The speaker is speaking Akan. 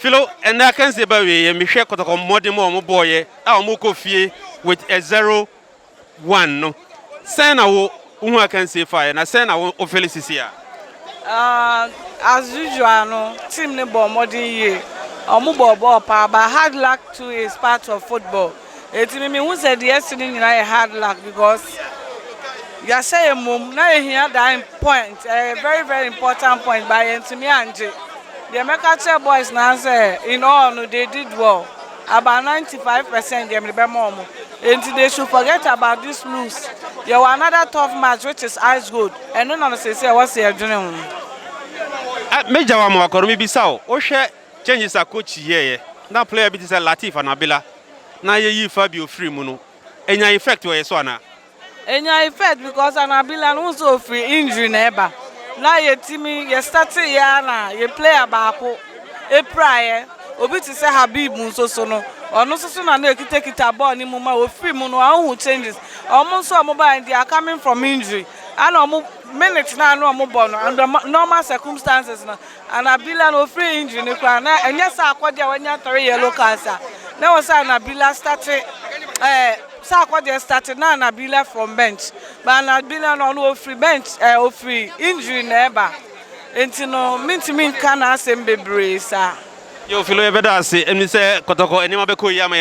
Philo, Ɛnnɛ akansie ba awieɛ, mehwɛ kɔtɔkɔ mmɔden mu a wɔn bɔɔeɛ a wɔn rekɔ fie with a zero one no, sɛn na wo hu akansie faeɛ na sɛn na wo wo fili sisi a? Ah, as usual no, team no bɔɔ mmɔden yie, wɔn bɔɔ bɔɔl paa but hard luck too is part of football. Enti me mehu sɛ deɛ ɛse no nyinaa yɛ hard luck because yɛahyɛ yɛn mmom na yɛhia that point ɛyɛ very very important point but yɛntumi angye deɛ mɛka kyerɛ boys naa sɛ in all no they did well about 95 percent deɛ mede bɛma wɔn enti they should forget about this lose yɛwɔ another tough match which is ice gold ɛno na no sɛ sɛ ɛwɔ sɛ yɛdwene ho. Mɛgya wo ama wakɔ no mebisa wo wohwɛ. Changes a Kotchi yɛeɛ na player bi te sɛ Latif anaa Billa na yɛyii Fabio firii mu no nyaa effect wɔ yɛn so anaa? Ɛnyaa effect because anaa Billa no wohu sɛ ɔfiri injury na ɛba na yɛtumi yɛ starteeɛ ara na yɛn player baako piraeɛ. Obi te sɛ Habib nso so no, ɔno nso so na na ɛkitakita bɔɔl no mu ma ɔfirii mu no a wohu changes. Wɔn nso a wɔbaeɛ no they are coming from injury ɛna wɔn minute no a na wɔbɔ no under normal circumstances no Anabila no ofiri injury no koraa na ɛnyɛ sɛ akɔdeɛ a wanya three yellow cards a na ɛwɔ sɛ Anabila start ɛɛ eh, sɛ akɔdeɛ start na Anabila from bench but Anabila no ɔno ofiri bench ɛɛ eh, ofiri injury na ɛba nti no mentumi nka n'asɛm bebree saa. Yo Philo yɛbɛda ase ɛmi sɛ kɔtɔkɔ nneɛma bɛkɔ yie ama yɛn.